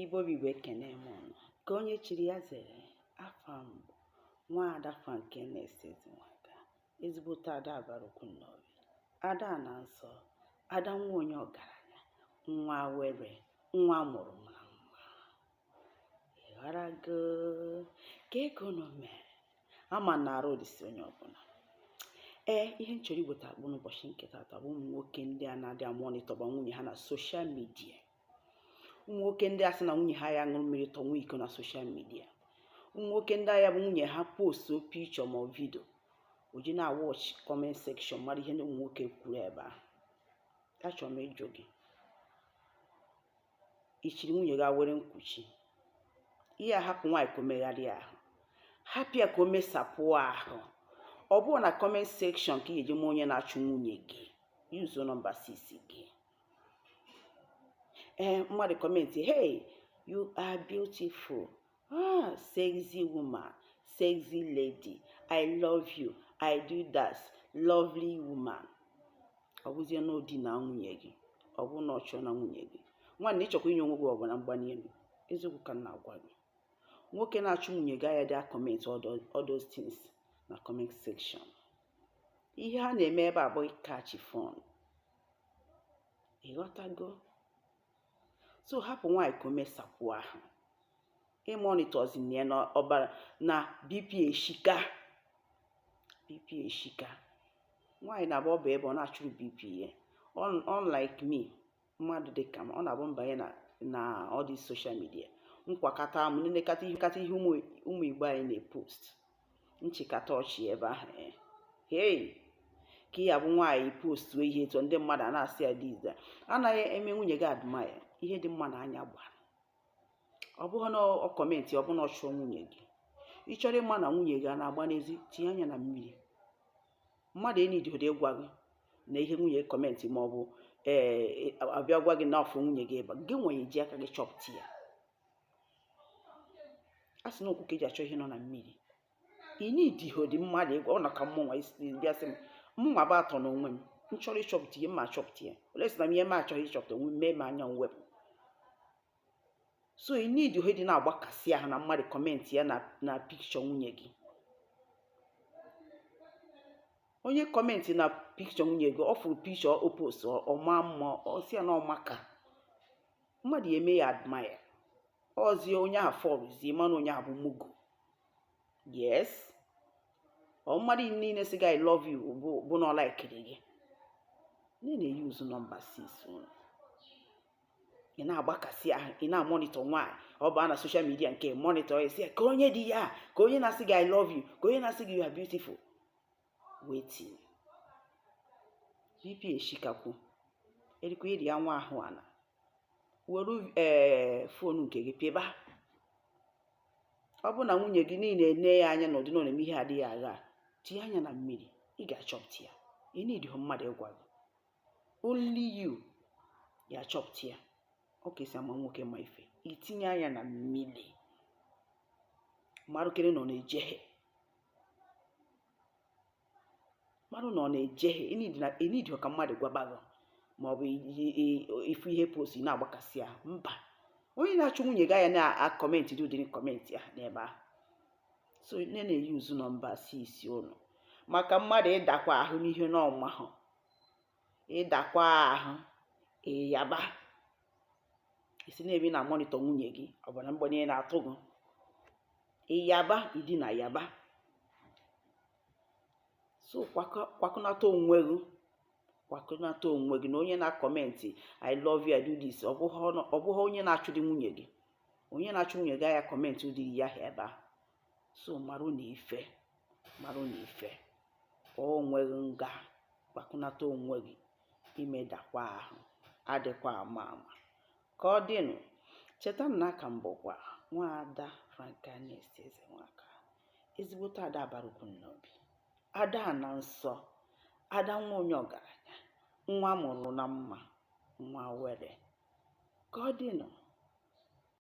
Igbo bụ Igbo ekene m unu ka onye chiri ya zere afa m nwaada Frank Ernest Ezenwaka ezigbote ada Abarukwu Nnobi ada na nsọ ada nwa onye ọgaranya nwa were nwa mụrụ mara mma ịghọrago kee ka unu mere ama m na arụ dịsị onye ọbụla ee ihe m chọrọ iweta akpụ n'ụbọchị nke taata bụ ụmụ nwoke ndị a na-adị amonitọba nwunye ha na soshal midia ụmụ nwoke ndị a sị na nwunye ha ya ṅụrụ mmiri tọ nwa iko na soshal midia ụmụ nwoke ndị a ya-abụ nwunye ha postu pichọ ma vidio o ji na-awọch kọment sekshọn mara ihe ndị ụmụ nwoke kwuru ebe ahụ achọrọ m ịjụ gị i chiri nwunye gị were nkwuchi ihe a hapụ nwaanyị ka o megharịa ahụ hapụ ya ka o mesapụ ahụ ọ bụrụ na kọment sekshọn ka ị ga-eji ma onye na-achụ nwunye gị yuzo nọmba 6 gị ee mmadụ kọmentị hey you are beautiful Ah, sexy woman, sexy lady, I love you, I do that, lovely woman. Ọ bụzie na o dina nwunye gị, ọ bụ na ọ chọ na nwunye gị. Nwanne ị chọkwa inye onwe gị ọbara mgbali elu, eziokwu ka m na-agwa gị. Nwoke na-achụ nwunye gị aya dị a comment all those things na comment section. Ihe ha na-eme ebe a bụ ịcatch fun. Ị ghọtago? so hapụ nwaanyị ka o mesapụ ahụ imonitọzina ya na ọbara na bp eshika bp eshika nwaanyị na-abụ ọ bụ ebe ọ na-achụrụ bp ya unlike me mmadụ dị ka m ọ na-abụ m banye na all these soshal midia nkwakata m nenekata ihe ụmụ igbo anyị na-epost m chịkata ọchị ebe ahụ eh. hei ka ị ya-abụ nwaanyị postu ihe etu ndị mmadụ a na-asị ya diz anaghị eme nwunye gị admaya ihe dị mma na anya gbara ọ bụghị na ọ kọmentị ọ bụ na ọ chụọ nwunye gị ị chọrọ ịma na nwunye gị a na-agba n'ezi tinye anya na mmiri mmadụ enidihọ dị ịgwa gị na ihe nwunye kọmentị ma ọ bụ ee a bịa gwa gị na ọ fụ nwunye gị ebe gị nwenye ji aka gị chọpụta ya a sị na ụkwụ ka e ji achọ ihe nọ na mmiri ị nidihọ dị mmadụ ịgwa ọ na ka mmụnwa isi bịa sị m mmụnwa bụ atọ na onwe m m chọrọ ịchọpụta ihe m ma achọpụta ya unless na m ihe m achọghị ịchọpụta onwe m mee m anya m wepụ so ị nidihọ dị na-agbakasị ahụ na mmadụ kọmentị ya na pikchọ nwunye gị onye kọmentị na pikchọ nwunye gị ọ fụrụ pikchọ o post ọ maa mma ọ sị ya na ọ maka mmadụ ya eme ya admire ọzie onye ahụ fọrụzie mana onye ahụ bụ mugu yes ọ mmadụ niile sị gị i love you bụ na ọ laikiri gị nne na-eyuzu nọmba 6 unu ị na-agbakasị ahụ ị na-amonitọ nwaanyị ọ baa na soshal midia nke monitọ ya si ya ka onye dị ya ka onye na-asị gị i love you ka onye na-asị gị you are beautiful wetin bp eshikakwu erikwa iri anwa ahụ ala were fon nke gị pịba ọ bụ na nwunye gị niile ne ya anya na ọ dị nọ na-eme ihe adịghị agha tinye anya na mmiri ị ga-achọpụta ya ị nidighị mmadụ ịgwa gị only you ya achọpụta ya ọ ka esi ama nwoke ma ife itinye anya na mmiri marụkere na ọ na-ejehie marụ na ọ na-ejehie ị nidighị ka mmadụ gwaba gị ma ọ bụ ifu ihe postu na-agbakasị ahụ mba onye na-achụ nwunye gị aya na-akọmentị dị ụdịrị kọmentị ahụ n'ebe ahụ so nne na-eyuzu nọmba 6 unu maka mmadụ ịdakwa ahụ n'ihe na ọ mahọ ịdakwa ahụ ịyaba isi na-ebi na mọnịtọ nwunye gị ọ bụ na mgbanye na-atụ gị ịyaba ị dị na Yaba so kwakọnata onwe gị kwakọnata onwe gị na onye na-akọmentị i love you i do this ọ bụghị onye na-achụdị nwunye gị onye na-achụ nwunye gị aya akọmentị ụdịrị ihe ahụ ebe a so marụ na ife marụ na ife ka onwe gị nga kwakọnata onwe gị imedakwa ahụ adịkwa ama ama ka ọ dịnụ cheta na a ka m bụkwa nwaada Frankness Ezenwaka ezigbote ada Abarukwu Nnobi ada ana nsọ ada nwa onye ọgaranya nwa mụrụ na mma nwa were ka ọ dịnụ